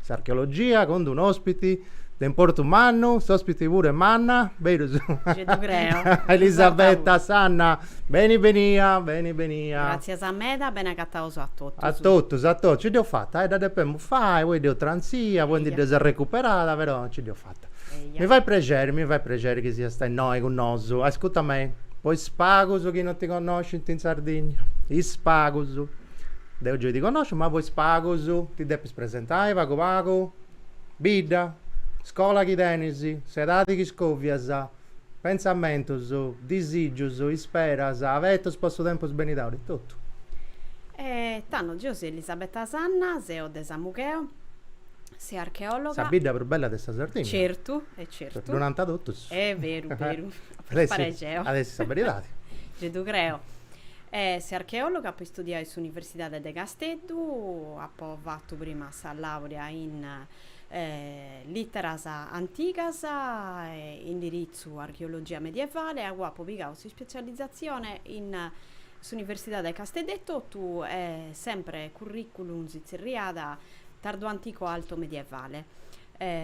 S'archeologia cun d-un ospiti de importu mannu, s'ospiti puru est manna, berus? Gei ddu creo. Elisabetta Sanna, beni benia, beni benia. Gràtzias meda, beni agataus a totus. A totus, a totus, nci dd'eus fata, eh, dda depemus fai, poi dd'eus trantzia, poi ndi dd'eus arrecuperada, però nci dd'eus fata. Mi fait prexeri, mi fait prexeri chi siasta innoi cun nosu. Ascuta me, po is pagus chi non ti connoscint in Sardigna, is pagus, deu gei ti connosciu, ma po is pagus ti depis. Presentai pagu pagu? Bidda, scola chi tenis, s'edadi chi scovias, pentzamentus, disìgius, isperas, abetus po su tempus benidori, totu. E tando geo seo Elisabetta Sanna, seo de Samugheo, seu archeòloga. Sa bidda prus bella de sa Sardigna. Certu, e certu. Ddu nant totus. Est beru, beru. At essi sa beridadi. Gei ddu creo. E seo archeòloga apo istudiau in s'Universidade de Casteddu, apo fatu prima sa làurea in Lìteras antigas indiritzu Archeologia medievale e agoa apu pigau s'ispetzializatzione in s'Universidade de Casteddu etotu e sempre currìculum si tzerriat Tardoantico-Altomedievale.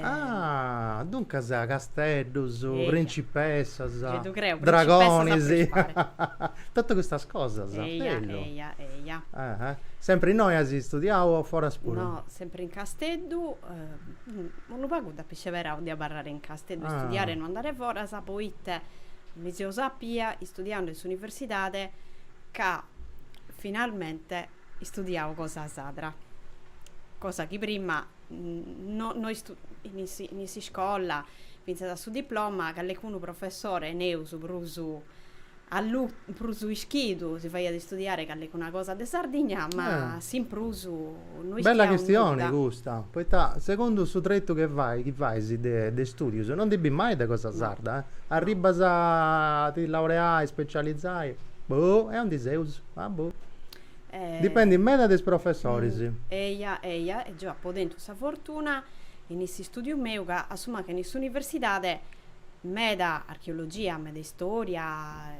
Ah, duncas casteddus, principessas, dragonis, totu custas cosas. Eia, eia, eia. Sempri innoi as istudiau o foras puru? No, sempri in Casteddu, unu pagu dd'apu isceberau de abarrare in Casteddu, istudiare e no andare foras, poita mi seu sapia, istudiandu in s'universidade, ca finalmente istudiau cosa sarda, cosa chi prima no, in in s'iscola fintzas a su diploma callecunu professore neus prus prus ischidu si faghiat istudiare callecuna cosa de Sardigna ma s'in prus no ischia nudda. Bella chistione custa, poita segundu su tretu chi fai chi fais de de istudius no ndi bis mai de cosa sarda, arribbas a ti laureai, specializai, boh, e aundi seus, ah boh Dipendit meda de is professoris. Eia, eia, e geu apu tentu sa fortuna, in is studius meus, ca a su mancu in s'universidadi, meda archeologia, meda istoria,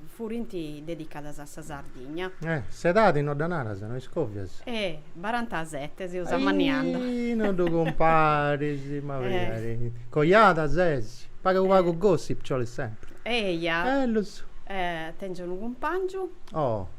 furint dedicadas a sa Sardigna. Eh, s'edadi no dda naras, no iscovias? Eh, barantasete, seus amanniandu. Ahi, no ddu cumparis, ma magari. Coiada ses? Pagu pagu gossip nci 'olit sempri. Eia. Bellus. Eh, tengiu unu cumpangiu. Oh.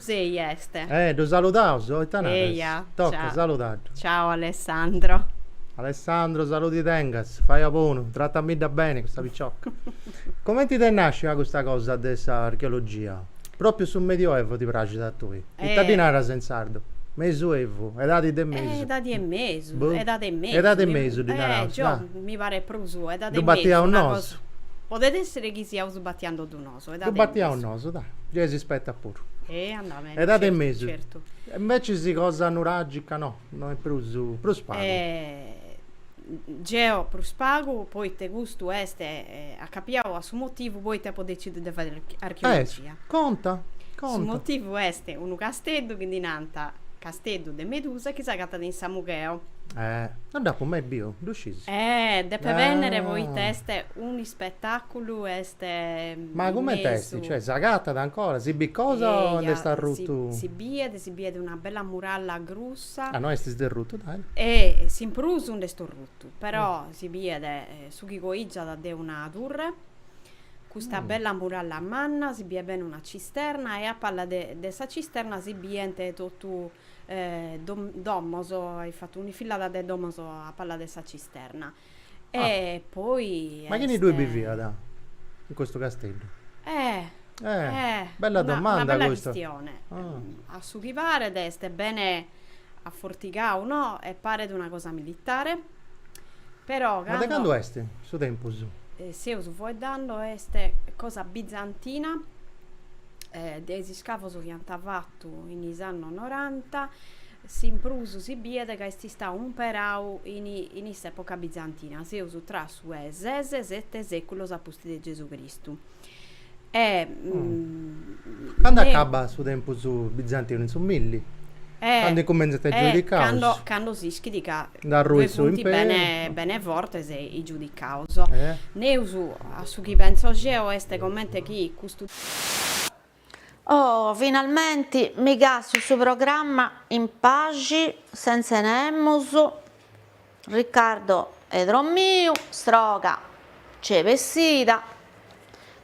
Sei est. Eh, ddu saludaus? Oh, ita naras? Eia, toca, saludaddu. Ciao Alessandro. Alessandro, saludi tengas, fai a bonu, tratamidda beni custa picioca. Comenti t'est nàscia custa cosa de sa archeologia? Pròpiu su Medioevu ti praxit a tui? Ita ddi naras in sardu? Mesuevu, edadi de mesu. Eh, edadi 'e mesu, Boh. edadi 'e mesu. Edadi 'e mesu ddi naraus, Eh, gio, dai. mi paret prus edadi 'e mesu. Ddu batiaus nosu. Podet èssere chi siaus batiendeddu nosu. Ddu batiaus nosu, dai, gei si spetat puru. Andaus. Edadi e mesu. Certu. E invecis cosa nuragica no, no est prus, prus pagu. Geo prus pagu poita custu est, acapiau a su motivu poita apu decidiu de fai archeologia. Est, conta, conta. Su motivu est unu casteddu chi ddi nant Casteddu de Medusa chi s'agatat in Samugheo. Non dd'apu mai biu, ddu sciis? Depe bennere poita est un'ispetaculu e Ma comenti est? Cioè s'agatat ancora? Si bit cosa o nd'est arrutu? Si biet, si biet una bella muralla grussa. Ah, no est isderrutu, dai. E s'in prus nd'est orrutu, però si biet su chi coìgiat de una turre, custa bella muralla manna, si biet bene una cisterna e a palla de sa cisterna si bient totu domos, in fatu un'infillada de domos a palla de sa cisterna. E poi est. Ma chini ddui biviat in custu Casteddu? Eh. Eh. Bella domanda custa. Una bella chistione. A su chi paret est bene afortigau, no, e paret una cosa militare, però cando. Ma de candu est su tempus? Seus foeddando est cosa bizantina, de is iscavos chi ant fatu in is annos noranta, S'in prus si biet ca est istau umperau in s'època bizantina, seus tra su 'e ses e sete sèculos a pustis de Gesù Cristu. Candu acabat su tempus bizantinu? In su milli, candu incumentzant is giudicaus. E candu s'ischit ca ddoi funt bene fortes is giudicaus. Neus, a su chi pentzo deo, est comente chi custu. Oh, finalmenti mi càstiu su programma in paxi, sentze nemus, Riccardo est dromiu, sorga nc'est bessida,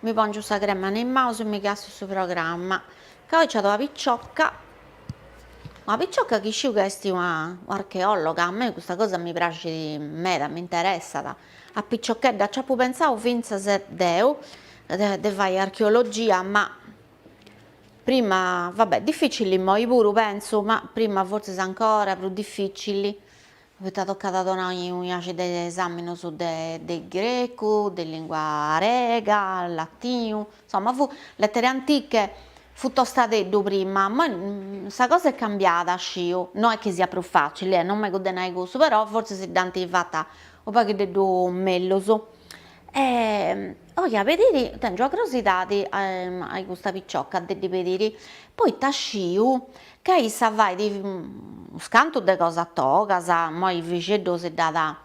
mi pongiu sa crema a is manus e mi càstiu su programma, ca oi nc'at una piciocca, una piciocca chi sciu ca est una archeologa, a mei custa cosa mi praxit meda, m'interessat A piciochedda nc'apu pentzau fintzas deu de fai archeologia, ma prima, va bè, dificili immoi puru pentzu, ma prima fortzis ancora prus dificili, poita tocat a donai unu sciacu de esaminos de grecu, de lingua arega, latinu, Insomma, fu lettere antiche, fu tostadeddu prima, moi sa cosa est cambiada, sciu, no est chi siat prus facili, eh, non megu de nai cussu, però fortzis si dd'ant fata unu paghiddeddu mellus. E 'oia pediri, tèngio sa crosidadi a custa picioca de ddi pediri, poita sciu ca issa fait scantu de cosas togas, moi Fixeddu si dd'at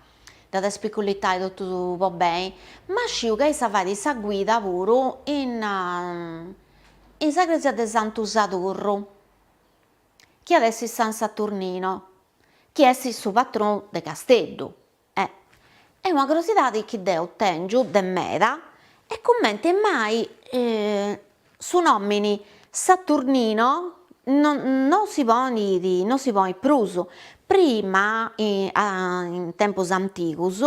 Dd'at a spicullitai totu po beni, ma sciu ca issa fait sa guida puru in in sa cresia de Santu Sadurru, chi at a essi San Saturnino, chi est su patronu de Casteddu. E e una crosidadi chi deu tengiu de meda est cumenti mai Su nòmini Saturnino no no si ponit no si ponit prus, prima in tempus antigus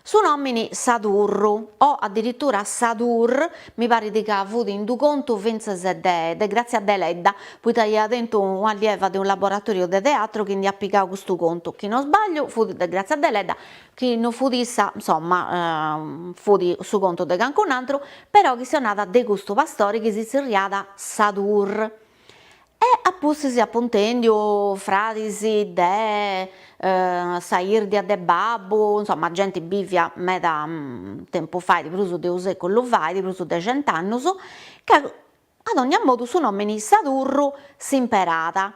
su nòmini Sadurru o addirittura Sadur mi parit ca fut in d'u' contu fintzas de de Grazia Deledda, poita ia tentu un'allieva de unu laboratòriu de teatru chi nd'iat pigau custu contu, chi no sbagliu fut de Grazia Deledda, chi no fut issa, insomma, fut su contu de cancun'antru, però chistionada de custu pastori chi si zerriada Sadur, e a pustis apu intèndiu fradis de sa 'irdia de babbu, insomma genti bivia meda tempus fait, prus de unu seculu fait, prus de cent'annus, ca a dogna modu su nomini Sadurru s'imperada,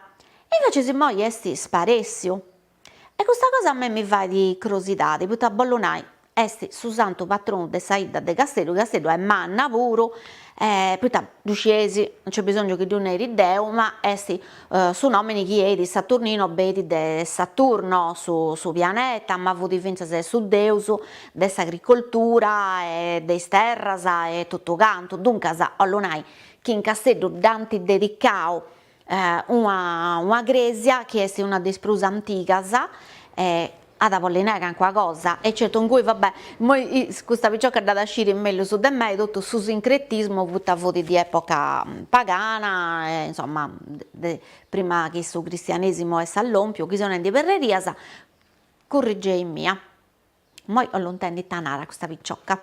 e invecias immoi est sparessiu E custa cosa a me mi fait crosidade, poita bollu nai, est su santu patronu de sa 'idda de Casteddu, Casteddu est manna puru, poita ddu scieis, non nc'est bisongiu chi ddu neri deo, ma est su nomini chi 'enit Saturnino benit de Saturno su su pianeta, ma fut fintzas su deus de s'agricoltura e de is terras e totu cantu, duncas bollu nai chi in Casteddu dd'ant dedicau Una una crèsia chi est una de is prus antigas e at a bolli nai calincuna cosa, e certu ingui va bè, immoi custa picioca dd'at a sciri mellus de mei, totu su sincretismu poita fut di epoca pagana e insomma de prima chi su cristianesimu est allompiu, chi seu nendi perrerias, currigeimia. Immoi 'ollu intendi ita narat custa picioca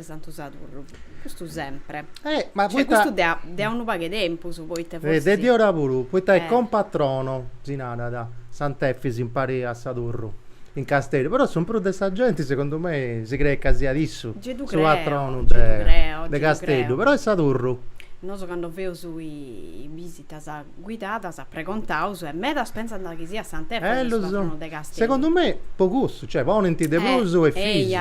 de Santu Sadurru, custu sempre. Eh, ma cioè, poita... custu de a, de a unu pagu 'e tempus, poita eh, forsis... Eh, de diora puru, poita eh. est compatrono, si narat, Sant'Efis impari a Sadurru, in Casteddu, però su prus de sa genti, segundu mei, si creet ca siat issu su patronu de Casteddu, però est Sadurru. Nosu cando feus is bisitas. guidadas a pregontaus e medas pensant chi siat Sant'Efis su patronu de Casteddu. Segundu me po cussu, cioè ponint de prus Efisio,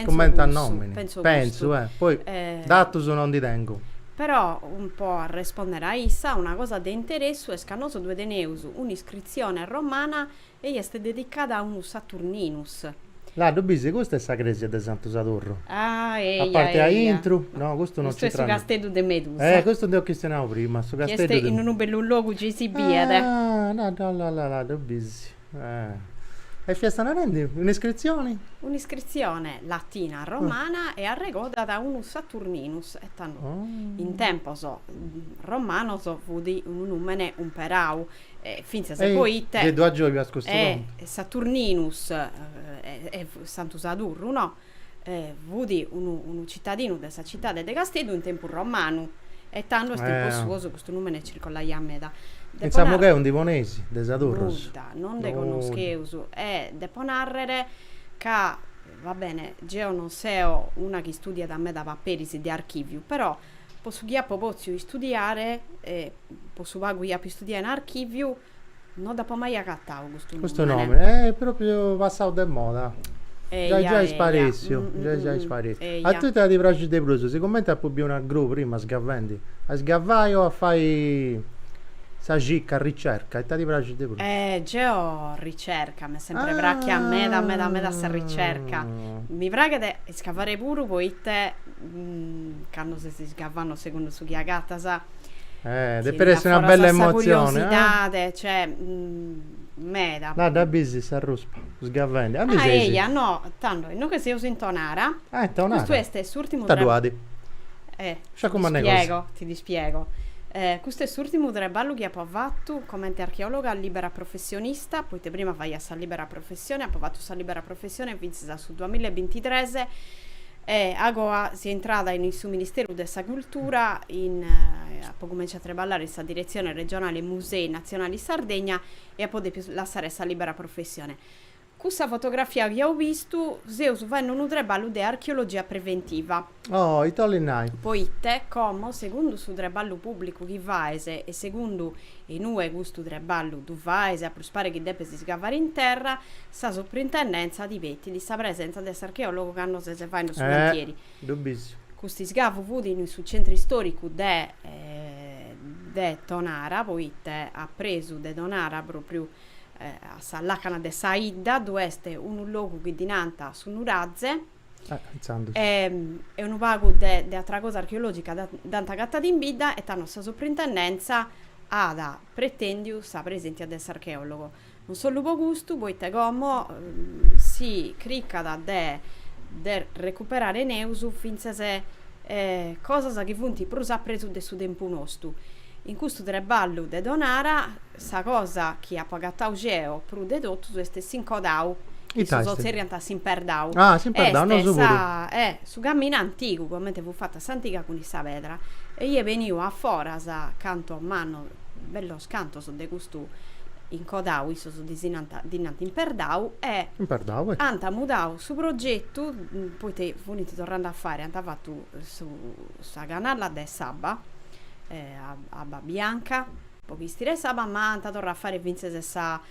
cumenti a nomini, pentzu, eh, poi datus no ndi tengu. Però, po arrespondere a issa, una cosa de interessu est ca nosu ddue teneus un'iscritzione romana E est dedicada a unu Saturninus. Là ddu bisi, custa est sa cresia de Santu Sadurru. Ah, eia, eia. A parte a intru, no, custu non c'intrat. Custu est su casteddu de Medusa. Eh, custu nd'eus chistionau prima, su casteddu de. Chi est in unu bellu logu gei si biet. Ah, là, là, là, là, là ddu bisi. Eh. E fiast narendi un'iscritzione? Un'iscritzione latina, romana e arregodat a unu Saturninus e tando. Oh. In tempos romanos fudi unu numene umperau E fintzas poite. Gei ddu agiogas custu contu. Saturninus est Santu Sadurru, no? Fut unu citadinu de sa citade de Casteddu in tempus romanu. E tando est po cussu custu numene circollaiat meda. Pentzamus chi oe ndi poneis de Sadurrus. Nudda, non nde connoscheus. E depo narrer ca, va bene, geo non seo una chi studiat meda paperis de archiviu, però Po su chi apo pòtziu istudiare e po su pagu chi apo istudiadu in archìviu, no dd'apo mai agatau custu nùmene. Custu nùmene est pròpriu passau de moda. Giai giai sparèssiu, giai giai sparèssiu. A tui ita ti praxit de prus, sigumenti apu biu una gru prima sgavendi, a isgavai o a fai sa circa, ricerca, ita ti praxit de prus? Geo ricerca, m'est sempri pràghia meda meda meda sa ricerca. Mi praghet isgavari puru poite cando ses isgavanno segundu su chi agatas, eh, depet essi una bella emotzioni, curiosidade meda. Là dda bisi sa ruspa sgavendi. A mi seis. Ah, eia, no, tando, innoghe seus in Tonara. Ah, in Tonara. Custu est s'urtimu traballu. Ita ddu at? Eh, ti dispiego, ti dispiego. Custu est s'urtimu treballu chi apo fatu comenti archeologa libera professionista, poite prima faia sa libera professione, apo fatu sa libera professione fintzas a su duamilla e bintitres, E agoa seo intrada in su Ministeru de sa Cultura, in, apo cumentzau a treballare in sa Diretzione Regionale Musei Natzionali Sardegna e apo depiu lassare sa libera professione. Cussa fotografia chi as bistu, seus faendo unu treballu de archeologia preventiva. Oh, ite 'olit nai? Poite, como, segundu su treballu pubblicu chi faes e segundu in ue custu treballu ddu faes, a prus e pare chi depes iscavare in terra, Sa Suprintendèntzia ddi petit sa presenza de s'archeòlogu cando ses faendu su cantieri. Eh! Ddu bisso. Custu isgavu fut in su centru istòricu de de Tonara, poite a presu de Tonara, pròpriu a sa làcana de sa 'idda, ddu est unu logu chi ddi nant su Nuraze. Eh! Intzandus. E e unu pagu de de atra cosa archeològica dd'ant agatada in bidda e tando sa Suprintendèntzia at pretèndiu sa preséntia de s'archeòlogu. Non solu po custu, poite como si cricat de de recuperare neus fintzas cosas chi funt prus a presu de su tempus nostu. In custu treballu de Tonara sa cosa chi apu agatau geo prus de totus est s'incodau, issos zerriant s'imperdau, est sa su caminu antigu comente fut fatu a s'antiga cun sa pedra e ieu beniu a foras cantu mannu bellos Cantos de custu incodau issos ddi si nant, ddi nant imperdau e. Imperdau e. Ant mudau su progetu, poite funint torrande a fàere, ant fatu su, sa canalla de s'abba, abba bianca, po chistire s'abba, ma ant torrau a fàere fintzes sa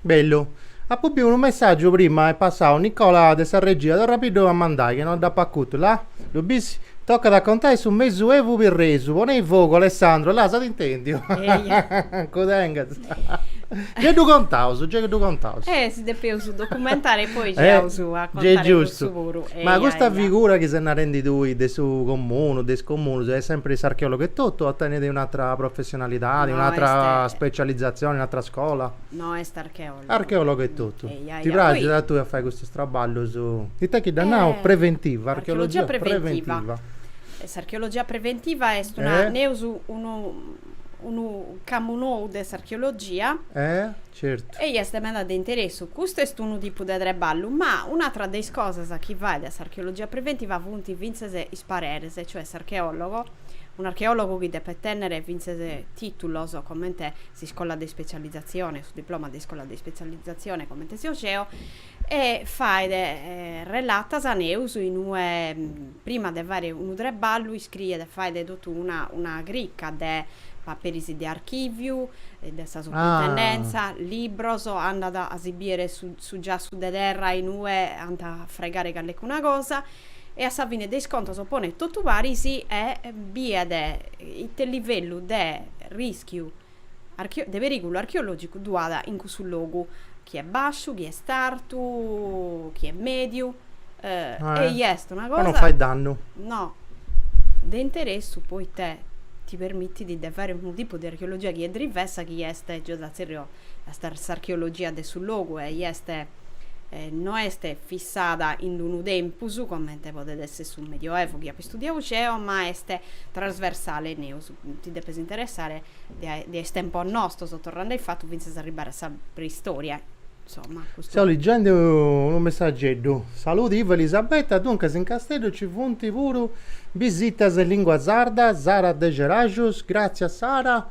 Bellu. Apu biu unu messaggiu prima est passau Nicola de sa regia torra-mi-ddu a mandai che no dd'apu acutu la? Ddu bisi? Tocat a contai su mesu evu pirresu ponei fogu Alessandro la s'at intendiu cu tengas gei ddu contaus gei ddu contaus Eh si depeus documentai e poi gei aus a contare cussu puru eia eia ma custa figura chi ses narendi tui de su comunu de is comunus est sempri s'archeologu etotu o tenit un'atra professioni Professionalidadi, No un'atra est. specializzazioni, un'atra scola? No est archeologu. Archeologu etotu. Ehi, ahi, Ti ah, poi. praxit a tui a fai custus traballus, ita chi dda nau, Eh, preventiva, archeologia archeologia preventiva. preventiva. S'archeologia preventiva est una, Eh? neus unu, unu camu nou de s'archeologia. Eh, certu. Ehi, est meda de interessu. Custu est unu tipu de treballu, ma un'atra de is cosas chi faet s'archeologia preventiva funt fintzes is pareres, cioè s'archeologo. Un'archeòlogu chi depet tènnere fintzes tìtulos comente s'iscola de ispetzializatzione, su diploma de iscola de ispetzializatzione comente seo geo, e faet relatas neus in ue prima de fàere unu treballu iscriet e faet totu una una crica de paperis de archìviu, de sa suprintendèntzia, libros, andat a si bìere su su giassu de terra in ue ant a fraigare callecuna cosa e a sa fine de is contos ponet totu paris e biet ite livellu de rischiu de perigulu archeologicu ddu at in cussu logu, chi est basciu, chi est artu, chi est mediu, e i est una cosa, po non fai dannu, no, de interessu poita ti permitit de fai unu tipu de archeologia chi est drivessa chi est, geo dda tzerrio s'archeologia de su logu e i est no est fissada in unu tempus, comente podet esser su Medioevu chi apo istudiadu geo, ma est trasversale, neus ti depes interessare de is tempos nostos, torrende a ifatu fintzas a arribbare a sa preistoria, insomma, custu. Seu liggende unu messageddu. Saludi Ivo Elisabetta, duncas in Casteddu ci funt puru bisitas in lingua sarda, Sara de Ceraxus, gràtzias Sara,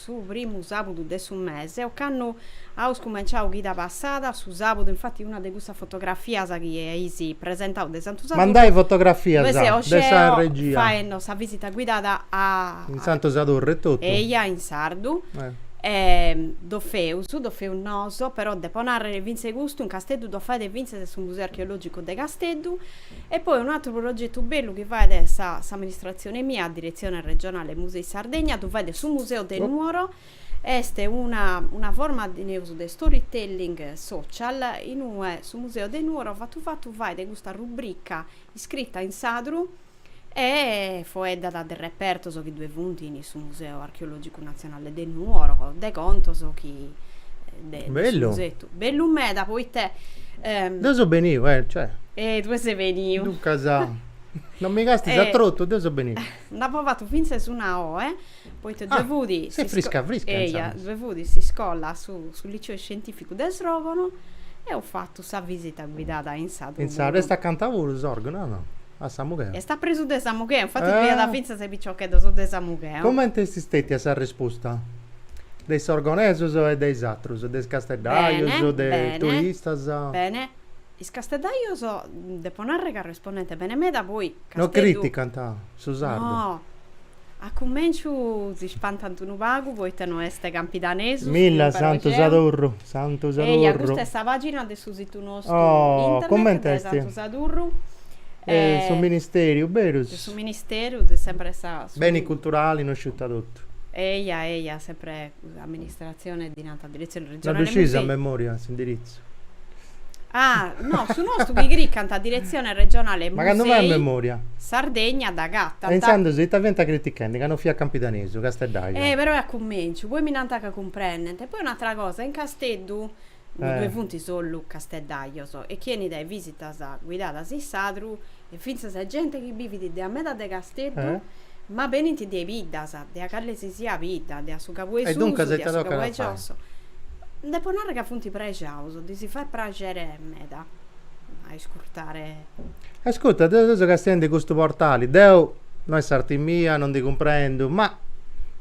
su primu sàbudu de su mese, ocannu aus cumenciau chida passada, su sàbudu, infati una de custas fotografias chi eis presentau de Santu Sadurru, Mandai fotografias ddoi seu de sa geo regia. faendi sa visita guidada a. In Santu Sadurru etotu. Eia, in sardu. E ddu feus, ddu feus nosu, però depo nàrrere fintzas custu in Casteddu ddu faet fintzas su Museu Archeològicu de Casteddu, E poi unu atru progetu bellu chi fait sa s'amministratzione mia, sa Diretzione Regionale Musei Sardegna, ddu fait su Museo de Nuoro, est una una forma de neus de storytelling social in ue su Museo de Nuoro fatu fatu fait custa rubrica iscrita in sadru E foeddat de repertos chi ddoe funt in su Museu Archeològicu Natzionale de Nuoro, de contos chi de su museu. Bellu meda poita. Deu seu beniu, eh, cioè. E ddue ses beniu. Duncas, non mi castis a trotu, deu seu beniu. Nd'apo fatu fintzas una oe. Poita ddue fut s'iscola, su liceo scientificu de Srògono, eo fatu sa visita guidada in sadru. In sa est acanta puru Sòrgono a Samugheo. Est apresu de Samugheo, infatis fiat fintzas piciocheddos de Samugheo. Comente est stetia sa resposta de is sorgonesos e de is atrus, de is casteddajos, de is turistas? Bene, bene. Is casteddajos, depo narrer ca respondent bene meda, poi Casteddu. No criticant su sardu. No. A cumenciu si spantant unu pagu poita no est campidanesu su Milla imparau Santu geu. Sadurru, Santu Sadurru. Eia, custa est sa pagina de su situ nostu Oh, internet comente de est? Santu Sadurru De su e ministeriu, berus? de su ministeru de sempre sa su Beni culturali no sciu ita totu. Eia, eia, sempre Amministratzione ddi nant diretzione regionale musei. Ddu sciis a memoria s'indiritzu? Ah, no, su nostu chi cricant diretzione regionale musei. Ma candu fai a memoria? Sardegna dd'agatant. E intzandus ita fiant critichendi ca no fiat campidanesu, casteddaju? Eh, però est a cumenciu, poi mi nant ca cumprendent. E poi un'atra cosa, in Casteddu ddoe funt sollu casteddajos, e chie 'enit a is visitas guidadas in sadru, e fintzas a gente chi bivit de a meda de Casteddu, ma benint de biddas, de a cale si siat bidda, de a su Cabu 'e Susu, de a su Cabu 'e Giosso. Depo narrer ca funt prexaus, ddi si fait praxere meda a iscurtare. Ascurta, deu seu castiendi custu portali, deu, no est s'arti mia, no ndi cumprendu, ma.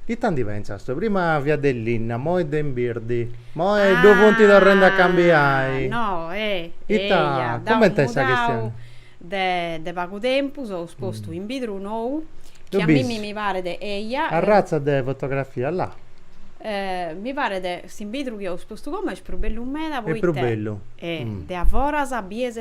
Ita ndi pentzas tue, prima fiat de linna, moi de in birdi, moi ddu funt torrendi a cambiai. Ah, no, eh. Ita, cumenti est sa chistioni? Deu de pagu tempus eus postu imbidru nou, chi a mimmi mi paret, eia. Arratza de fotografia, là. Mi paret, s'imbidru chi eus postu como est prus bellu meda, poita. Est prus bellu. De a foras bies.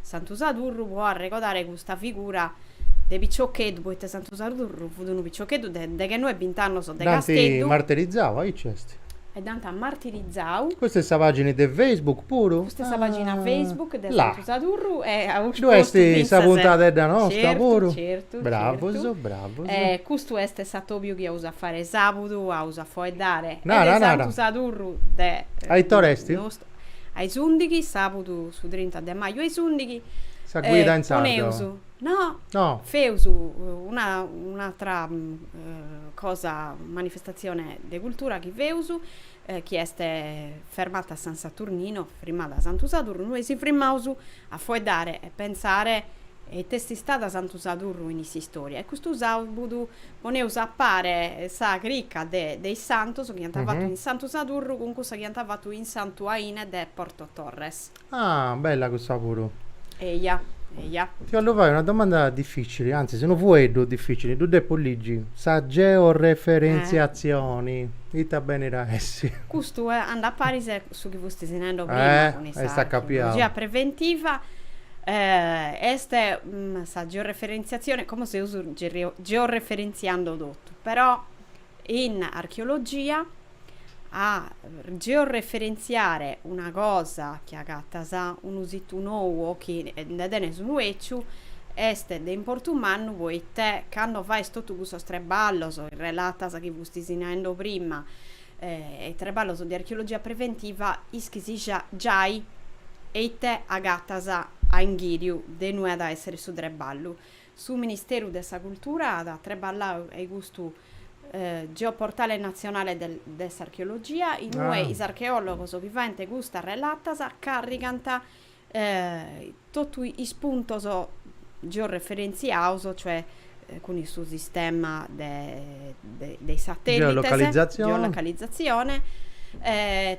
Santu Sadurru pro arregodare custa figura de piciocheddu, poite Santu Sadurru fut unu piciocheddu de deghenoe bint'annos de Casteddu. Dd'ant martirizau, aici est. E dd'ant martirizau. Custa est sa pagina de Facebook puru? Custa est sa pagina Facebook de Santu Sadurru eus postu fintzas. Ddu est sa puntadedda nosta puru? Certu, certu. Bravos, bravos. E custu est s'atobiu chi aus a fare sabudu, aus a foeddare de Santu Sadurru de. A ite ora est? a is ùndighi, sàbudu su trinta de maju a is ùndighi. Sa guida in sardu. Poneus, no, feus una un'àtera cosa, manifestatzione de cultura chi feus, chi est Fermata San Saturnino, Frimmada Santu Sadurnu, e si frimmaus A foeddare e pensare eite est istada Santu Sadurru in s'istòria e custu sàbudu poneus a pare sa chirca de de is santos chi ant fatu in Santu Sadurru cun cussa chi ant fatu in Santu Aine de Porto Torres. Ah, bella cussa puru. Eja, eja. Ti 'ollu fai una domanda difficili, antzis unu fueddu difficili, ddu depu ligi, sa georeferentziatzioni ita benit a essi? Custu andat paris Su chi fustis naendo prima cun issa. Eh, est accapiau. Archeologia preventiva est sa georeferentziatzione, como seus georeferentziando totu, però in archeologia a georeferentziare una cosa chi agatas unu situ nou o chi nde tenes unu eciu est de importu mannu poite cando fais totu custos trebballos, relatas chi fustis naendo prima, e treballos de archeologia preventiva ischis giai eite agatas a inghìriu de inue at a èssere su treballu. Su Ministeru de sa Cultura at treballau a custu geoportale natzionale de s'archeologia in ue is archeòlogos chi faent custas relatas carrigant totu is puntos georeferentziaos, cioè cun su sistema de de is satèllites, geolocalizatzione,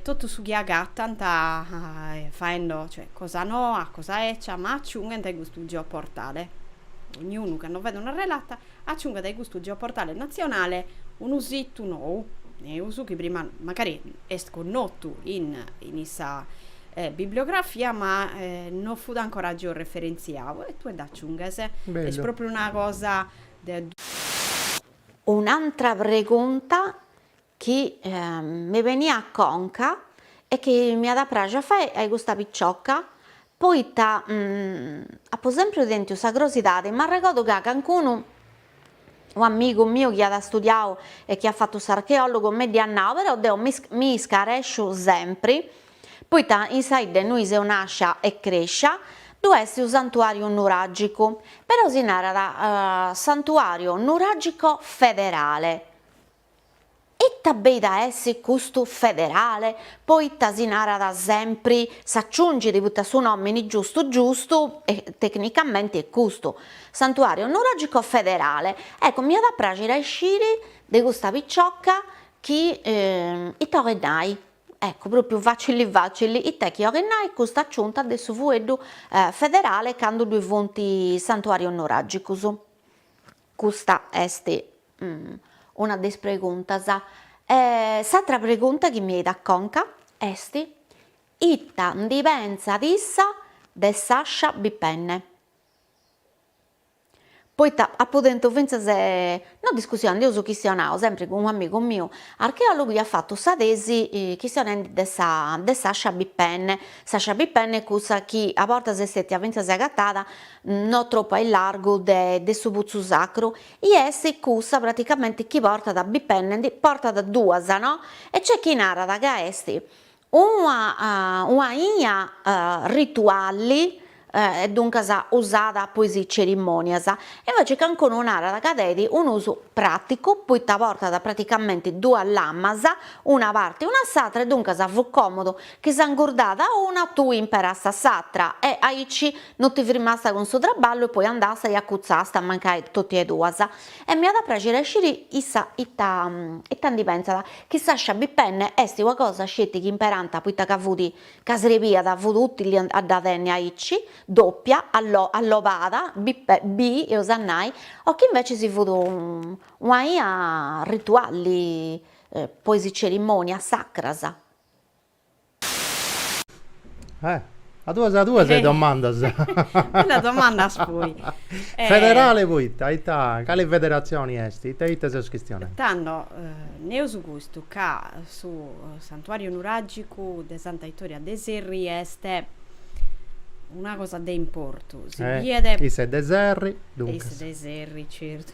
totu su chi agatant faendo cosa noa, cosa ecia, ma aciunghent a custu geoportale, dognunu cando fait una relata aciungat a custu geoportale natzionale unu situ nou, neus, chi prima magari est connotu in issa Bibliografia ma no fut ancora georeferentziadu e tue dd'aciunghes. Est pròpriu una cosa de. Un'antra pregunta chi mi beniat a conca e chi mi at a praxi a fai a custa picioca poita apu sempriu tentiu sa crosidadi, m'arregodu ca cancunu u amigu miu chi at studiau e chi at fatu s'archeòlogu mi dd'iat nau, però deu mi iscaresciu sempri, poita in sa 'idda innui seu nàscia e crèscia ddu est u santuàriu nuràgicu, però si narat santuàriu nuràgico federale. Ita beit a essi custu federale, poita si narat sempri, s'aciungit poita su nomini giustu giustu e tecnicamenti est custu, Santuario Nuragico Federale, ecco mi at a praxiri a isciri de custa picioca chi ita 'olet nai, ecco propriu facili facili, ita est chi 'olet nai custa aciunta de su fueddu federale candu ddu funt is Santuarius Nuragicus, custa est una de is preguntas. E s'atra pregunta chi mi 'eit a conca est, ita ndi pentzat issa de s'àscia bipenne. Poita apu tentu fintzas, no discussioni, ndi eus chistionau sempri cun un'amigu miu archeologu chi at fatu sa tesi chistionendi de sa de s'àscia bipenne. S'àscia bipenne est cussa chi a bortas est stetia fintzas agatada no tropu a illargu de de su Putzu Sacru I est cussa praticamenti chi portat bipenne, ndi portat duas no e c'est chi narat ca est una una aina rituali e duncas usada po is cerimonias e invece cancunu narat ca tenit un'usu praticu poita portat praticamenti duas lamas una parti una s'atra e duncas fut comodu Chi s'ingurdada una tui imperasta s'atra e, aici, no ti frimasta cun su traballu e poi andasta e accuzzasta mancai totti e duas. E mi at a praxiri a isciri issa ita ita ndi pensat, chi s'ascia bipenne esti ua cosa sceti chi imperanta poita ca fudi, ca srebiat, fut utili a dda tenni aici, doppia, allo allobada, bi bi eus a nai, o chi invecis fut un'aina rituali, po is cerimonias sacras. Eh, a duas a duas e domandas. Una domanda as poi. Federale poita? Ita, cale federatzioni est? Ita ita seus chistionendi? Tando neus custu ca su santuàriu nuràgicu de Santa Itoria de Serri est una cosa de importu, si biet. Issa est de Serri, duncas. Issa est de Serri, certu.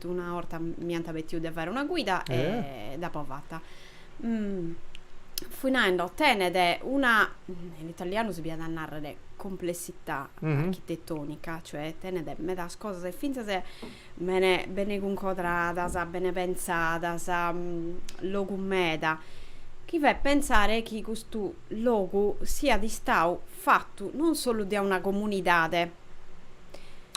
Una 'orta mi ant petiu de fare una guida e dd'apo fata. Fui naendo, tenet una, in italianu si podiat nàrrere, complessità architetonica, cioè tenet medas cosas e fintzas bene bene cuncodradas, bene pentzadas, logu meda, chi fait pentzare chi custu logu siat istadu fatu non solu dae una comunidade,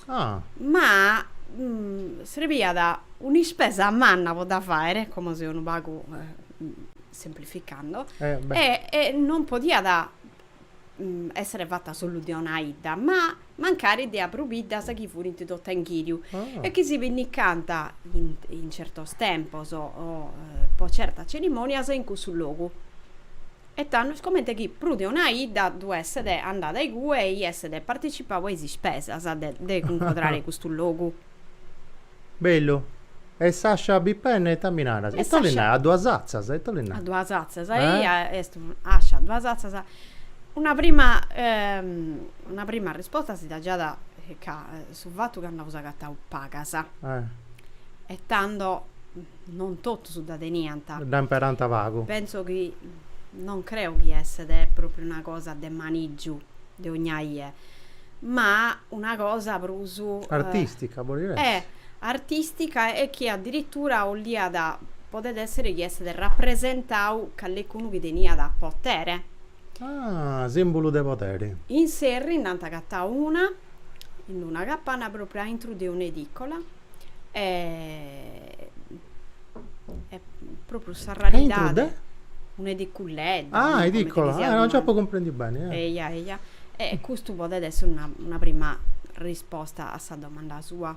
Ah. Ma mm, srebiat un'ispesa manna po dda fàere, como seu unu pagu semplificando, eh, e, e non podiat mm, èssere fata solu de una 'idda, ma mancari dae prus biddas chi furint totu a inghìriu ah. e chi si pinnicant in, in certos tempos o, o po certas cerimònias in cussu logu. E tandus comente chi prus de una 'idda ddu esset andada igue e esset participau a is ispesas de de cuncodrare custu logu. Bellu. E s'ascia bipenne ita mi naras? Ita li narat? A duas atzas? Ita li narat? A duas atzas. Eia est ascia a duas atzas. Una prima una prima arrisposta si dda giat ca su fatu ca nd'aus agatau pagas e tando Non totus dda teniant. Dda imperant pagu. Pentzo chi, non creo chi esset pròpriu una cosa de manìgiu de ogna ie, ma una cosa prus. Artìstica podit essi. Eh! Artìstica e chi adiritura 'olliat, podet èssere chi esset rapresentau callecunu chi teniat potere. Ah, sìmbulu de poderi. In Serri nd'ant agatau una, in una capanna pròpriu a intru de un'edìcola, e pròpriu sa raridade, un'ediculedda, ah, edìcola, ah, non nc'apu cumprendiu beni. Eia, eia. E custu podet essi una prima risposta a sa domanda sua.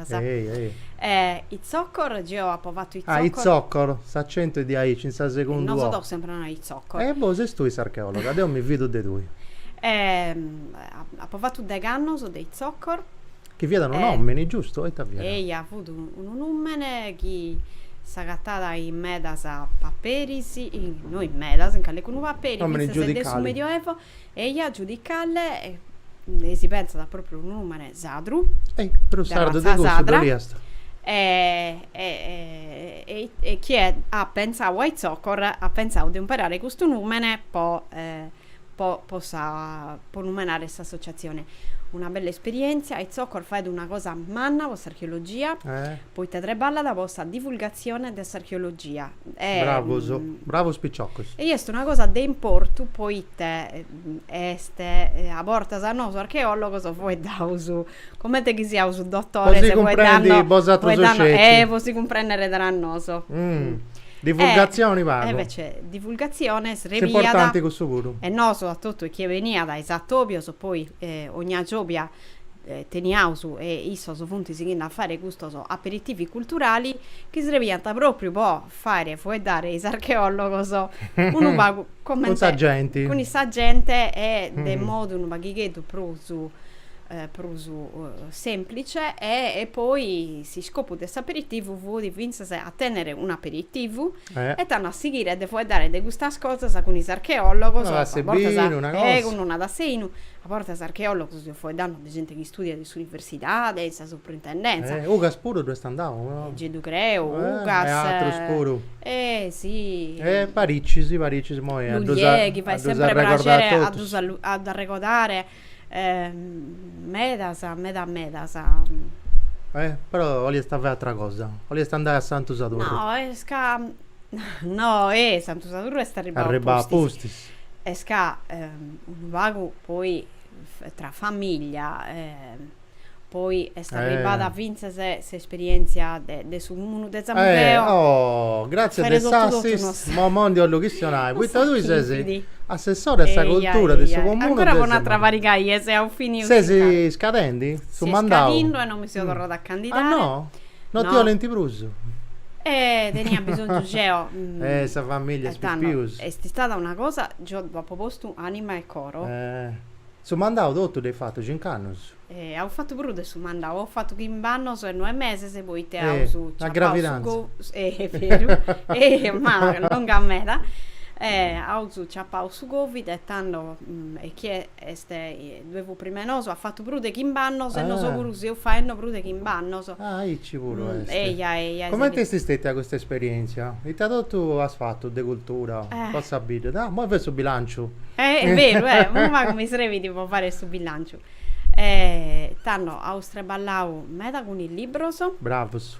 Sa e ei ei. E Itzocor, geo apo fatu Itzocor. Ah, Itzocor, s'acentu est diaici, in sa segunda o. Nosu totu sempri nai Itzocor. E boh, ses tui s'archeologa, deu mi fidu de tui. E apo fatu degh'annos de Itzocor. Chi fiat unu nòmini, giustu, ita fiat? Eia, fut unu nùmene chi s'agatat in medas paperis, no in medas, in calicunu paperi, fintzas de su medioevo. Eja giudicale e si pentzat propriu unu numene sadru. E prus sardu de cussu doli est. E, e, e, e chie at pentzau a Itzocor at pentzau de umperare custu numene po, po, po sa, po numenare s'associazione. Una bella esperientzia, a Itzocor faet una cosa manna po s'archeologia. Poita treballat po sa divulgatzione de s'archeologia Bravos, e. bravos piciocos. E est una cosa de importu poita est a bortas a nosu archeologos foeddaus comente chi siaus dotores Po si cumprendi bosatros sceti. Eh po si cumprendere tra noso. Divulgatzioni pagu. Invece divulgatzione srebiat. Est importanti cussu puru. E nosu a totu e chie beniat a is atobios poi ogna giobia teniaus e issos funt sighende a fàere custos aperitivi culturali chi srebiant pròpriu po fàere fueddare is archeòlogos unu pagu comente cun sa genti cun sa genti e de modu unu paghigheddu prus prus sèmplice e poi s'iscopu de s'aperitivu fut fintzas a tènnere un'aperitivu E tando a sighire e de fueddare de custas cosas cun is archeòlogos, a bortas segun no narat seinu, a bortas archeòlogos seu fueddandu de genti chi istùdiat in s'universidade, in sa suprintendèntzia. Ugas puru ddu est andau? Gei ddu creu, Ugas. E atrus puru. E si. E paricis, paricis, imoi a ddus. Lugliè, chi fait sempri prexeri a ddus arregodare Medas, meda medas. Eh, però 'oliast a fai atra cosa, 'oliast andai a Santu Sadurru. No, est ca, no, eh, Santu Sadurru est arribbau apustis. Arribbau apustis. Est ca, unu pagu poi, tra famiglia, Poi est arribada fintzas s'esperièntzia de su Cumunu de Samugheo. Oh, gràtzias de s'assist. Mo mo ndi 'ollu chistionai, poita tui ses assessora de sa cultura de su Comunu de Samugheo. Ancora po un'atra pariga 'e dies e finio, sì. Ses scadendi su mandau? Seu scadindu e non mi seu torrada a candidai. Ah no? No ti 'olint prus? Eh, tenia bisonzu geo. Eh, sa famiglia is pipius. Est istada una cosa, geo dd'apu postu anima e coro. Su mandau totu dd'eis fatu cinc'annus. E aus fatu prus de su mandau, aus fatu chimb'annus e noe meses poite aus ciapau su go, e est beru, e ma longa meda, e aus ciapau su Covid e tando e chie est, ddue fut prima 'e nosu, at fatu prus de chimb'annus e nosu puru seus faendu prus de chimb'annus. Ah, aici puru est. Eja, eja. Comente est stètia custa esperièntzia? Ita totu as fatu de cultura po sa bidda? Ah, imoi fait su bilànciu. Eh, beru, eh. Unu pagu mi srèbit po fai su bilànciu. Tando aus traballau meda cun is libros. Bravus.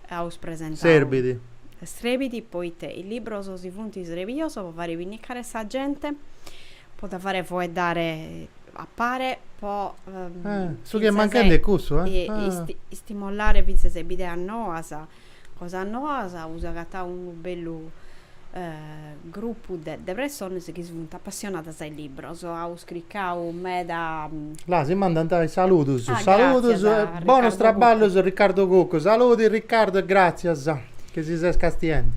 Aus presentau. Srèbit. Srèbit poita is libros si funt srebius po fai pinnigare sa genti. po dda fare foeddare a pare po su chi est manchende est cussu istimolare fintzas is bideas noas cosas noas aus agatau unu bellu grupu de pressonas chi funt apassionadas a is libbros aus cricau meda là si mandant is saludus saludus e bonus traballus Riccardo Cuccu saludi Riccardo e gratzias chi si ses castiendi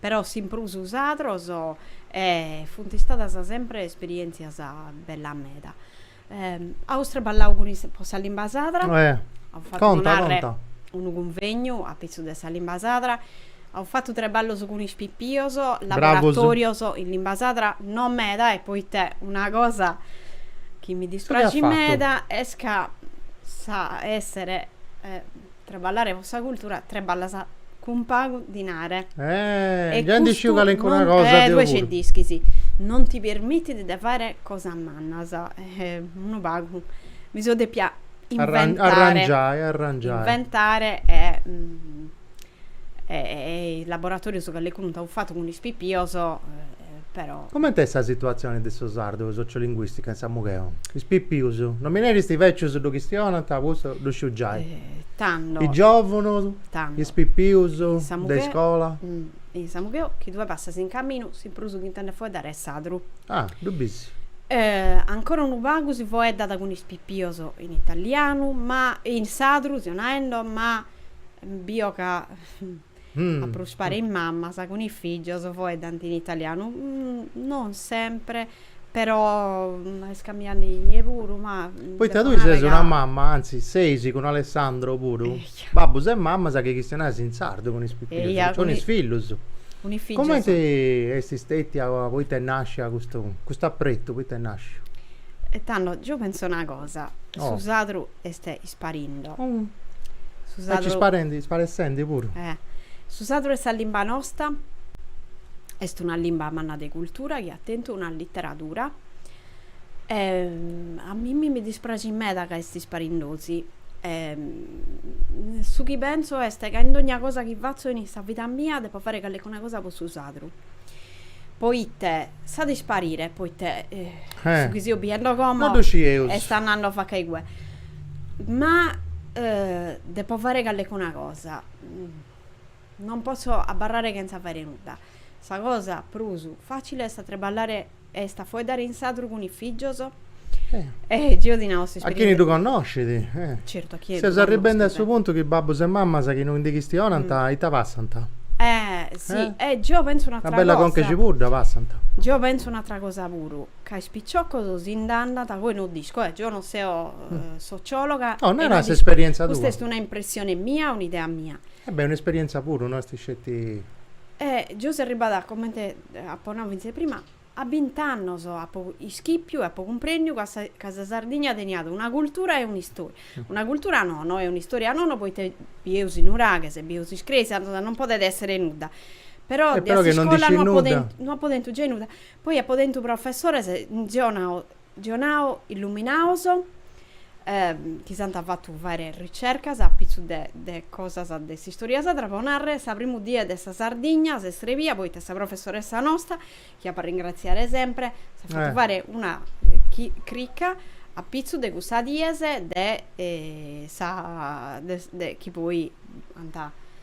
Però s'imprus sadros e funt istadas sempre esperièntzias bellas meda. Aus traballau cun is po sa limba sadra, aus fatu po narrer unu cunvegnu apitzus de sa limba sadra, aus fatu traballos cun is pipios, laboratorios in limba sadra, no meda e poite una cosa chi mi dispraxit meda est ca sa essere Treballare po sa cultura treballas cun pagu dinare. Eh, già ndi sciu calencuna cosa deu puru. Eh, tue ge nd'ischis. Non ti permitit de fare cosas mannas. Eh, unu pagu mi so depia inventare. Arrangiai, arrangiai. Inventare e is laboratorius calecunu nd'aus fatu cun is pipios. però. Comente est sa situatzione de su sardu e sociolinguìstica in Samugheo? Is pipius, no mi neris is bècius ddu chistionant, custu ddu sciu giai. Tando. Is giòvunus. Tando. Is pipius. In Samugheo. De iscola. In Samugheo, chi tue passas in caminu, su prus chi intendes foeddare est sadru. Ah, ddu bis. Ancora unu pagu si foeddat cun is pipius in italianu, ma, in sadru, seo naendo, ma, bio ca. A prus pare is mamas cun is fìgios foeddant in italianu, non sempre, però est cambiende in ie puru, ma. Poita tui ses una mama, antzis seis cun Alessandro puru, babbus e mamas chi chistionais in sardu cun is pipius, cun is fillus. Cumenti est stètia poita est nàscia custu, custu apretu, poita est nàsciu? E tando, deu pentzu una cosa, su sadru est. Parindo. Su sardu. Aici sparendi, sparessendi puru. Eh. Su sadru est sa limba nosta est una limba manna de cultura chi at tentu una literadura e a mimmi mi dispraxit meda ca est isparindosi e su chi pentzu est ca in dogna cosa chi fatzu in sa vida mia depo fare calecuna cosa po su sadru poite s'at isparire poite su chi seu biendo como est andando faca a igue. Ma depo fare callecuna cosa. Non posso abbarrare chentza fare nudda. Sa cosa prus facile est a treballare est a fueddare in sadru cun is fìgios. E geo ti nau s'esperienza. A chini ddu connoscit. Certu, a chini ddu connoscit. Seus arribendi a su puntu chi babbus e mammas chi no ndi chistionant ita passant. Eh, si. E geo pentzu un'atra cosa. Una bella conca 'e cibudda passant. Geo pentzu un'atra cosa puru. Ca is piciocos si nd'andant poi non dico. Deu non seu sociòloga. No, nara s'esperièntzia tua. Custa est una impressione mia, un'idea mia. E beh, un'esperièntzia puru, no est sceti. E geu seu arribada, comente apo nau fintzas prima, a bint'annos apu ischipiu e apu cumprèndiu ca sa ca sa Sardigna teniat una cultura e un'istòria. Una cultura nono e un'istòria nono poita bieus is nuraghes, bieus is cresias, non podet èssere nudda. Però de iscola no apu tentu giai nudda. Poi apo tentu professores zionao zionao illuminaos chi s'ant fatu fàere ricercas a pitzu de de cosas de s'istoria sadra, pro nàrrere, sa primu die de sa Sardigna s'est srebia poita sa professoressa nosta, chi apo a ringratziare sempre, s'at fatu fàere una crica a pitzu de cussas dies de sa de chi poi ant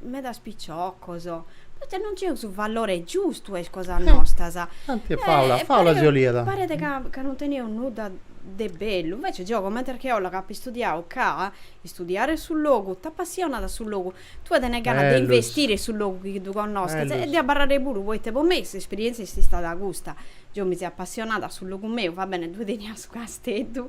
medas piciocos, poita non 'onaus su valore giustu a is cosas nostras. Tanti e Paula, Paula si 'oliat. Paret ca ca non teneus nudda de bellu, invece geo comente archeologa apu istudiau ca istudiare su logu t'apassionat a su logu, tue tenes ganas de investire in su logu chi ddu connoschis e de abarrare puru, poita po mei s'esperientzia est istada custa, geo mi seu apassionada a su logu meu, va bene ddue tenia su casteddu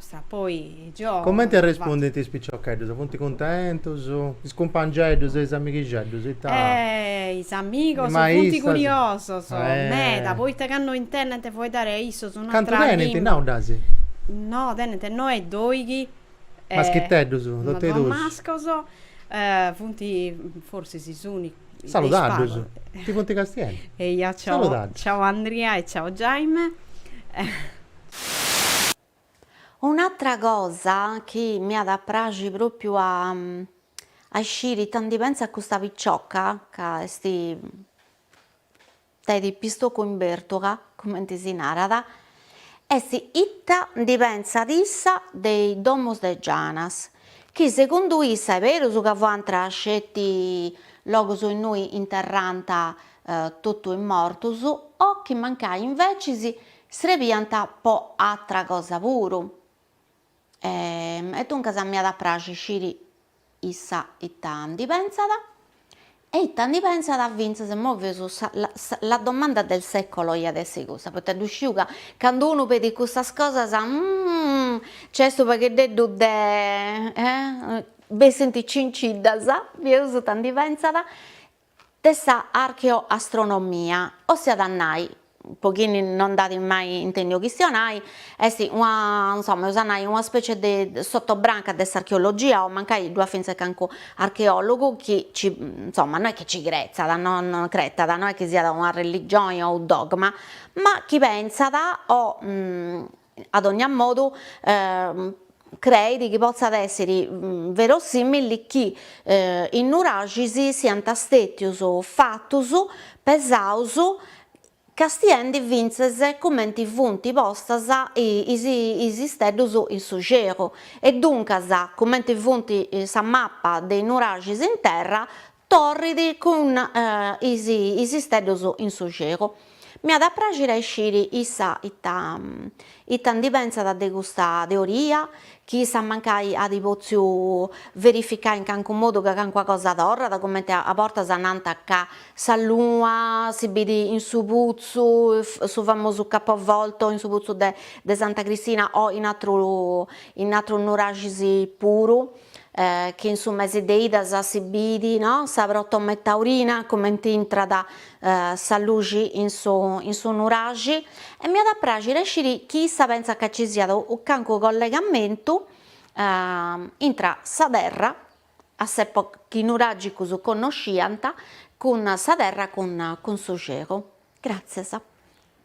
Comente arrespundint is piciocheddus? Funt cuntentus? Is cumpangeddus e is amighixeddus ita. Is amigos funt curiosos meda poita candu intendint fueddari a issus un'atra. Cantu tenint nau ddu as. No, tenint noe doighi. Maschiteddus, tot'e is duus. Mascos, funt forsis is unicus. Saludaddus, ti funt castiendu. Eia, ciau Andria e ciau Jaime. Un'atra cosa chi mi at a praxi pròpiu a a isciri ita ndi pentzat custa picioca, ca est tenet pistocu in bertugha, cumenti si narat, est ita ndi pentzat issa de is domus de Gianas, chi segundu issa est berus ca fiant sceti logus innui interrànt totu is mortus o chi mancai invecis Srebiant po atra cosa puru. E e duncas m'iat a praxi sciri issa ita ndi pensat e ita ndi pensat fintzas imoi feus sa la domanda del secolo iat essi cussa, poita ddu sciu ca candu unu pedit cussas cosas nc'est unu pagheddeddu de bessint cinciddas, bieus ita ndi pensat de sa archeoastronomia, ossiat a nai, po chini no nd'at mai intendiu chistionai, est una insoma eus a nai una specie de sotobranca de s'archeologia o mancai ddu at fintzes calincunu archeologu chi ci insoma no est chi ci cretzat no no cretat no est chi siat una religioni o u dogma, ma chi pentzat o A dònnia modu, creit chi potzat èssere verosìmili chi is nuraxis siant stètios fatus pesaus castiendi fintzes cumenti funt postas is is isteddus in su celu e duncas cumenti funt sa mapa de is nuraxis in terra Torrit cun is is isteddus in su celu. Mi at a praxire a isciri issa ita ita ndi pentzat de custa teoria, chi issa mancai at potziu verificai in calincunu modu ca calincuna cosa torrat, comente a bortas nant ca sa luna si bit in su putzu, su famosu capovolto in su putzu de de Santa Cristina o in atru in atrus nuraxis puru. chi in su mese de 'idas si bit no sa protome taurina comente intrat sa luxi in su in su nuraxi e m'iat a praxire a sciri chi issa pentzat ca ci siat unu cancu collegamentu intra sa terra a s'epo chi is nuragicus connosciant cun sa terra cun cun su celu. Gràtzias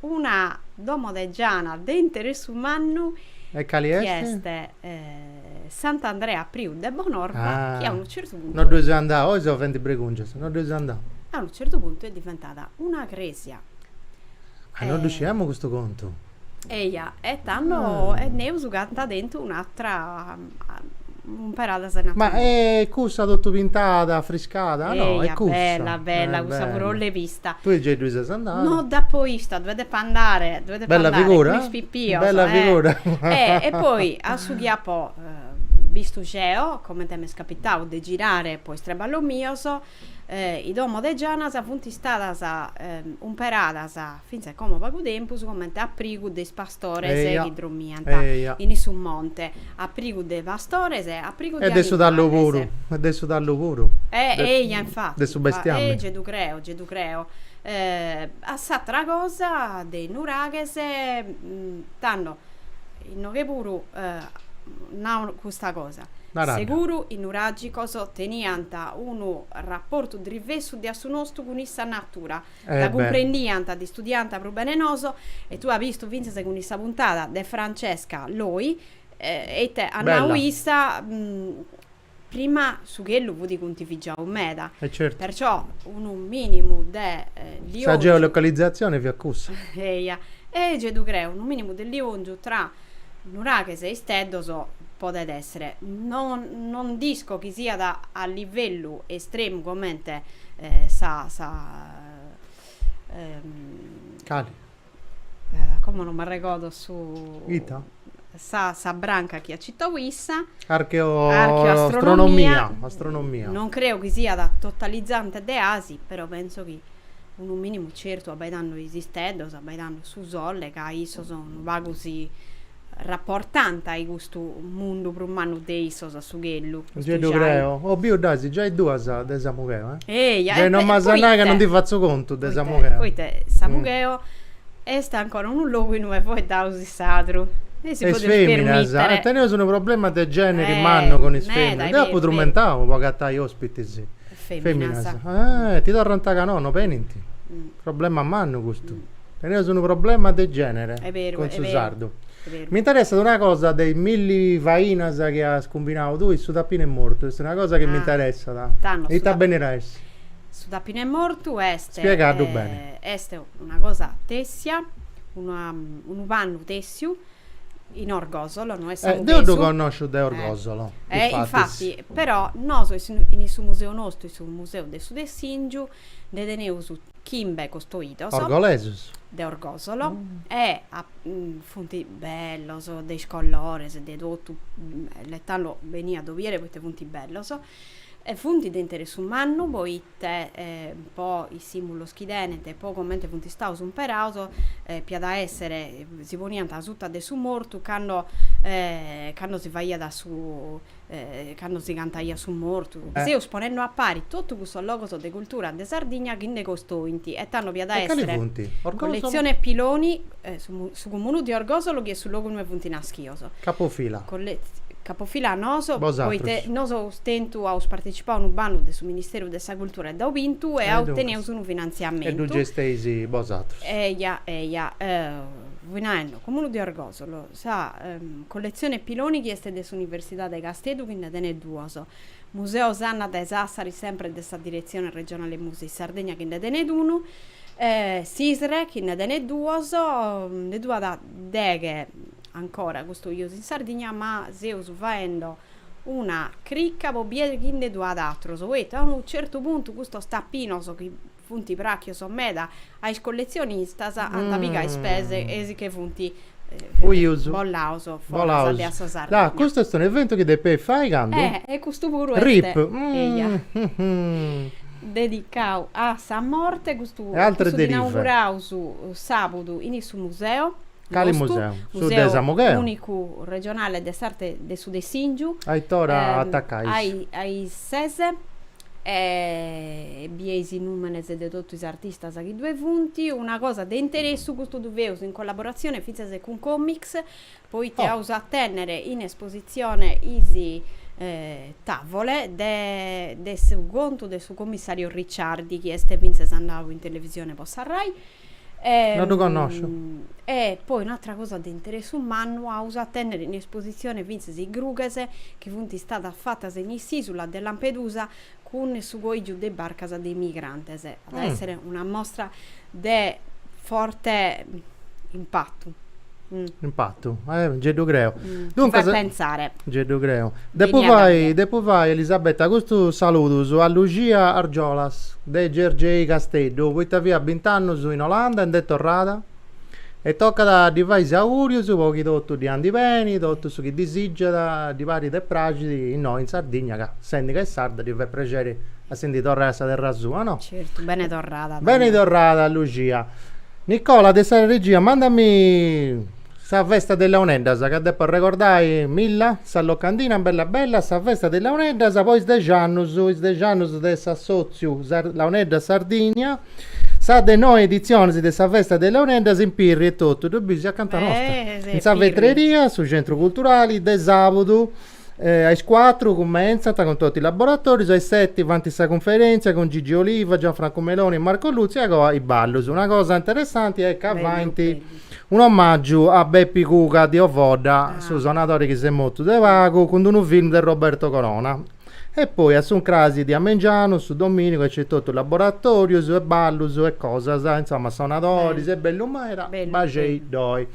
Una domo de giana de interessu mannu E cali chi est? est Sant'Andrea Priu de Bonorva chi a unu certu puntu. No dd'eus andau, oi seus fendi bregùngias, no dd'eus andau. A unu certu puntu est diventada una crèsia. Ah, no ddu sciamus custu contu. Eia, e tando, e naraus ca ant tentu un'atra. Umperada. Ma est cussa totu pintada, afriscada? Eia, no, est cussa. Bella, bella, eh, cussa bella. puru l'apo vista. Tui giai ddui ses andada? No dd'apo bista, ddu 'e depo andare, ddu 'e depo bella andare. Figura? Cun is pipios. Bella eh. figura. Eh, e poi a su chi apo bistu geo, comente m'est capitau de girare po is traballos mios, eh, i domo de Gianas funt istadas umperadas fintzas como pagu tempus, comente aprigu de is pastores chi dromiant in issu monte, aprigu de pastores e aprigu de animales. E de su tallu puru, e de su tallu puru. Eia, infati. De su bestiamini. Eia, ddu creo, gei ddu creo. A s'atera cosa de Nuraghes, tando, inoghe puru nau custa cosa. Nara dda. Seguru is nuragicos teniant unu rapportu drivessu de a su nostu cun issa natura. Dda cumprendiant, dd'istudiànt prus bene 'e nosu, e tue as bistu fintzas cun issa puntada de Francesca Loi, e ite at nau issa, prima su chelu fut cuntivigiau meda, perciò unu minimu de liòngiu. Sa geolocalizzazione fiat cussa. Eia, gei ddu creu, unu minimu de liòngiu tra Nuraghes e isteddos, podet èssere. No no dd'isco chi siat a livellu estremu comente sa sa Cale? Como non m'arregordo su. Ita? Sa sa branca chi at citau issa. Archeo Archeoastronomia. Astronomia. Non creo chi siat totalizante deasi, però penso chi unu minimu certu abbaidando is isteddos, abbaidando su sole, ca issos unu pagu si rapportant a-i custu mundu prus mannu de issos, a su chelu. Gei ddu creo. Oh, biu dd'asi giai duas de Samugheo, eh? Eja, e, e, poita? Non m'as a nai ca non ndi fatzu contu de Samugheo. Poita Samugheo est ancora unu logu innui est faeddau su sadru. E si podit permittere. Is feminas, e teneus unu problema de generi mannu cun is feminas. Deu apu trumentau po agatai ospitis. Feminas. Eh, ti torrant ca no, no benint. Problema mannu custu. Teneus unu problema de genere cun su sardu. Mi interessat una cosa de is milli fainas chi as cumbinau tui, su tapinu 'e mortu, est una cosa chi mi interessat. Tando. Ita benit a essi? Su tapinu 'e mortu est. Spiega ddu beni. Est una cosa tessia, unu pannu tessiu in Orgosolo, no est samughesu. Eh, deu ddu connosciu de Orgosolo. Eh, eh infati, però nosu in su museu nostru, in su museu de su Tessìngiu, nde teneus chimbe costoidos. Orgolesus. De Orgosolo, e funt bellos, de is colores, de totu, e tando beni a ddos bìere poite funt bellos, e funt de interessu mannu poita te po is sìmbulos chi tenent e po comente funt istaus umperaus, p'iat a èssere, si poniant asuta de su mortu cando cando si faiat su cando si cantaiat su mortu. Seus ponende a pari totu custos logos de cultura de Sardigna chi nde costoint e tando p'iat a èssere colletzione Piloni, Su Cumunu di Orgosolo chi est su logu ue funt naschios. Capofila. Capofila a nosu poita nosu aus tentu, aus partetzipau unu bandu de su Ministeru de sa Cultura e dd'aus bintu e aus otentu unu finantziamentu. E ddu gesteis bosatrus. Eia, eia. Fui naendi, Cumunu di Orgosolo, sa colletzioni Piloni chi est de s'Universidadi de Casteddu chi nde tenet duos, Museu Sanna de Sassari sempri de sa Diretzioni Regionali Musei Sardegna chi nde tenet unu, E s'ISRE chi nde tenet duos, nde ddu at deghe ancora custodius in Sardigna, ma seus faendo una cricca po bider chi nde ddu at atrus, poita a unu certu puntu custos tapinos chi funt prachios meda a is collezionistas ant pigau is pes e si che funt Fuius bolaus foras de a sa Sardegna. Ah, custu est un'eventu chi depeis fai candu? Eh, e custu puru est. Rip. Eja. Dedicau a sa morte, custu dd'inauguraus sabudu in su museu nostru. Cali museu? Su de Samugheu unicu regionale de s'arte de su Tessìngiu. A it'ora atacais? A is, a is ses. E bieis is nùmenes de totu is artistas chi ddue funt. Una cosa de interessu, custu ddu feus in collaboratzione fintzas cun Comics, poita aus a tènnere in espositzione is tàvole de de su contu de su commissariu Ricciardi, chi est fintzas andau in televisione po sa Rai. No ddu connosciu. E poi un'atra cosa de interessu mannu aus a tènnere in espositzione fintzas is grughes chi funt istadas fatas in s'ìsula de Lampedusa cun su coìgiu de barcas de is migrantes. At a èssere una mostra de forte impatu. Impatu, eh, nci ddu creu. Duncas, mi fait pentzare. Nci ddu creu. Depu fai, depu fai, Elisabetta, custus saludus a Luxia Argiolas, de Gergei Casteddu, poita fiat bint'annus in Olanda e nd'est torrada, e tocat a ddi fai is augùrius po chi totu ddi andit beni, totu su chi disìgiat, ddi parit e praxit innoi in Sardigna, ca sendi ca est sarda ddi fait prexeri a si ndi torrai a sa terra sua, no? Certu, beni torrada. Beni torrada Lucia. Nicola de sa regia mandami sa festa de is Launeddas ca depo arregordai Milla, sa locandina bella bella, sa festa de is Launeddas po is dex'annus, is dex'annus de s'assotziu Launeddas Sardigna, sa de noi editzionis de sa festa de is Launeddas in Pirri etotu, ddu bis, acanta nosta, in sa vetreria, su centru culturali, de sabudu A is cuatru cumentzant cun totu is laboratorius, a is seti faint sa cunferèntzia cun Gigi Oliva, Gianfrancu Meloni e Marco Luzzi e a coa is ballus. Una cosa interessanti est ca faint un'omàgiu a Bepi Cuca di Ovodda, su sonadori chi s'est mortu de pagu, cun d'unu film de Roberto Corona. E poi a s'incrasi de amengianu, su domìnigu, ddoi at totu laboratorius e ballus e cosas, insoma sonadoris, est bellu meda, baxei-ddoi.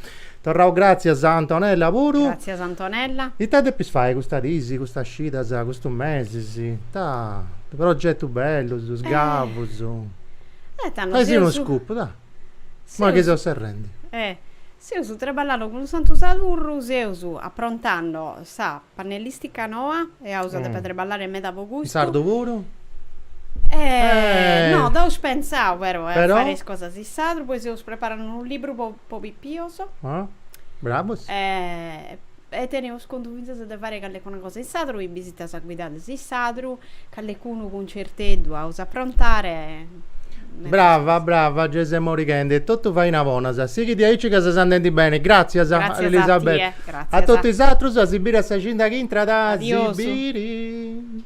Torraus gràtzias a Antonella puru. Gràtzias Antonella. Ita depis fai custas dis, custas cidas, custus mesis? Ita progetus bellus, isgavus. Eh tando seus. Fai-sì unu scoop, dai. Imoi chi seus serrendi. Eh seus treballando cun Santu Sadurru, seus aprontando sa Pannellistica noa e aus a deppe treballare meda po custu. In sardu puru? Eeh no d'aus pensau però 'e fare is cosas in sadru, poi seus preparende unu libru po po pipios. Oh bravos. E teneus contu finzas de fare calecuna cosa in sadru, is bisitas guidadas in sadru. Callecunu cuncerteddu aus a aprontare me Brava, brava, gei ses morighende. Est totu faina bona. Sighi diaici ca ses andendi beni. Gràtzias, Gràtzias a Elisabetta. tie, gràtzias. A totu is atrus, a si biri a sa cida chi intrat. A si Adiosu. biri.